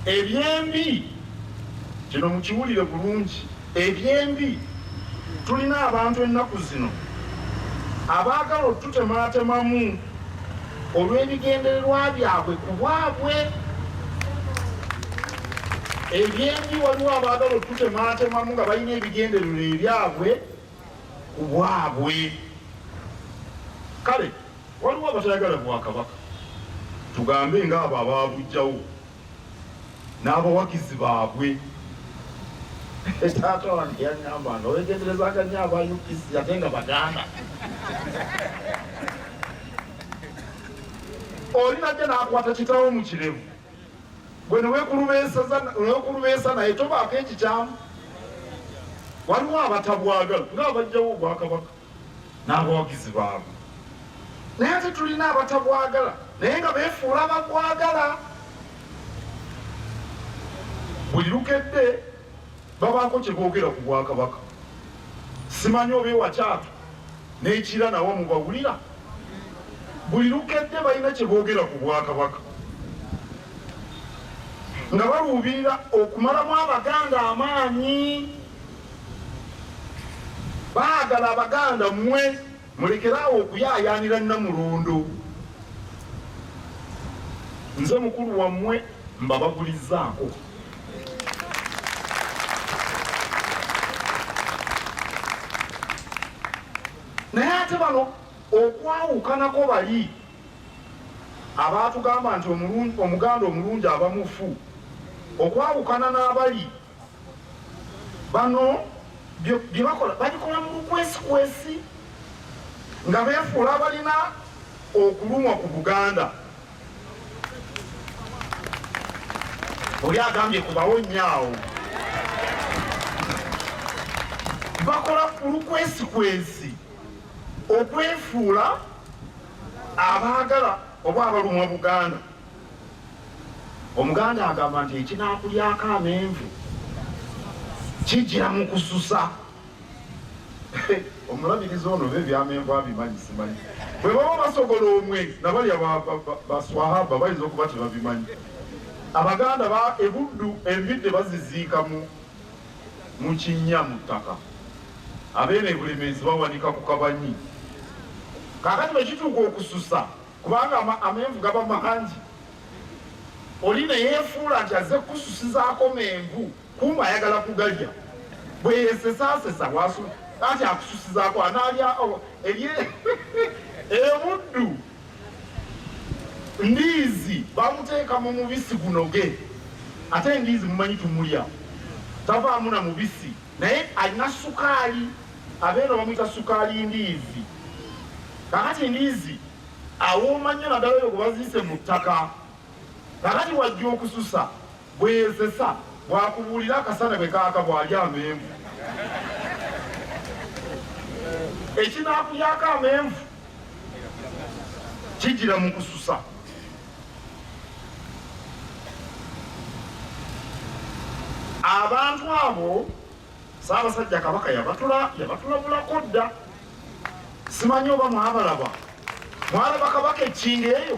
ebyembi kino mukiwulire bulungi ebyembi tulina abantu ennaku zino abaagala otutemaatemamu olw'ebigendererwa byabwe ku bwabwe ebyembi waliwo abaagala otutemaatemamu nga balina ebigendererwa ebyabwe ku bwabwe. Kale waliwo abatayagala Bwakabaka, tugambe ng'abo abaabuggyawo n'abawagizi baabwe. Taata wange yaŋŋamba nga weegenderezanga nnyo aba UPC ate nga Baganda. Oli najja n'akwata kitaawo mu kirevu. gwe newekulubeesa naye tobaako ekikyamu waliwo abatabwagala ngaabajjawo obwakabaka n'abawagizi baabwe naye ate tulina abatabwagala naye nga befuula babwagala buli lukedde Babaako kye boogera ku Bwakabaka. Simanyi oba ewa Kyatu n'e Kira nawo mubawulira? Buli lukedde balina kye boogera ku Bwakabaka nga baluubirira okumalamu Abaganda amaanyi. Baagala Abaganda mmwe mulekere awo okuyaayaanira Nnamulondo. Nze mukulu wammwe mbabagulizzaako. naye ate bano okwawukanako bali abaatugamba nti omuganda omulungi aba mufu okwawukana n'abali bano bye bakola babikola mu bukwesikwesi nga beefuula balina okulumwa ku buganda oli agambye kubawo nnyo awo bakola ku lukwesi kwensi okwefuula abaagala oba abalumwa buganda omuganda agamba nti ekinakulyako amenvu kijira mu kususa omulabirizi ono be byamenvu abimanyi simanyi bwe baba basogola omwe nabalya baswahaba bayinza okuba tebabimanyi abaganda ba ebuddu embidde baziziika mu mukinnya mu ttaka abeena ebulemeezi bawanika ku kabanyi kakati bwekituuka okususa kubanga amenvu gaba mahangi oli neyefuula nti aze kukususizaako menvu kumba ayagala kugalya bweyesesasesa wasu kati akususizaako anaalya oh, ebye ebuddu ndiizi bamuteeka mu mubisi gunoge ate endiizi mumanyi tumulya tavaamu na mubisi naye alina sukaali abeera bamwita sukaali ndiizi kakati ndiizi awooma nnyo naddala oyo gwe baziise mu ttaka kakati wajja okususa Bweyezesa bwakubuulira akasana bwe kaaka bwalya amenvu ekinaakulyako amenvu kijira mu kususa abantu abo saabasajja kabaka yabatulabulako dda simanyi oba mwabalaba mwalaba kabaka ekinga eyo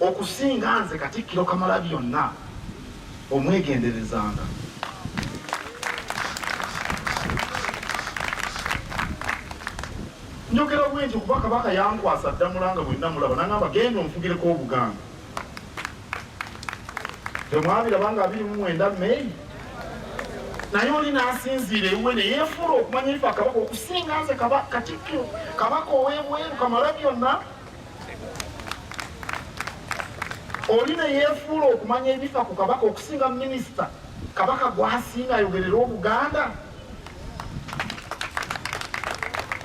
Okusinga nze Katikkiro Kamalabyonna omwegenderezanga. Njogera bwe nti kuba Kabaka yankwasa Ddamula nga bwe namulaba nangamba genda onfugireko Obuganda. Temwabiraba nga abiri mu mwenda Meyi naye oli nasinziira ewuwe neyefuula okumanya efa kabaka okusinga nze katikkiro kabaka owebweru kamala byonna oli ne yeefuula okumanya ebifa ku kabaka okusinga minisita kabaka gwasinga ayogerera obuganda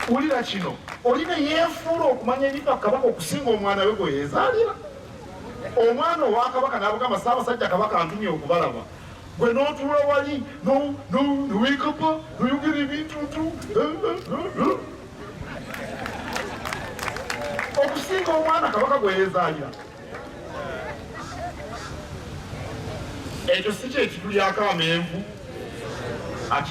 wulira kino oli ne yeefuula okumanya ebifa ku kabaka okusinga omwana we gwe yeezaalira omwana owa kabaka n'abugamba saabasajja kabaka antumye okubalaba gwe n'otuula wali nowiikapa noyogera ebintuntu okusinga omwana kabaka gweyezaalira ekyo si kyekitulyako amenvu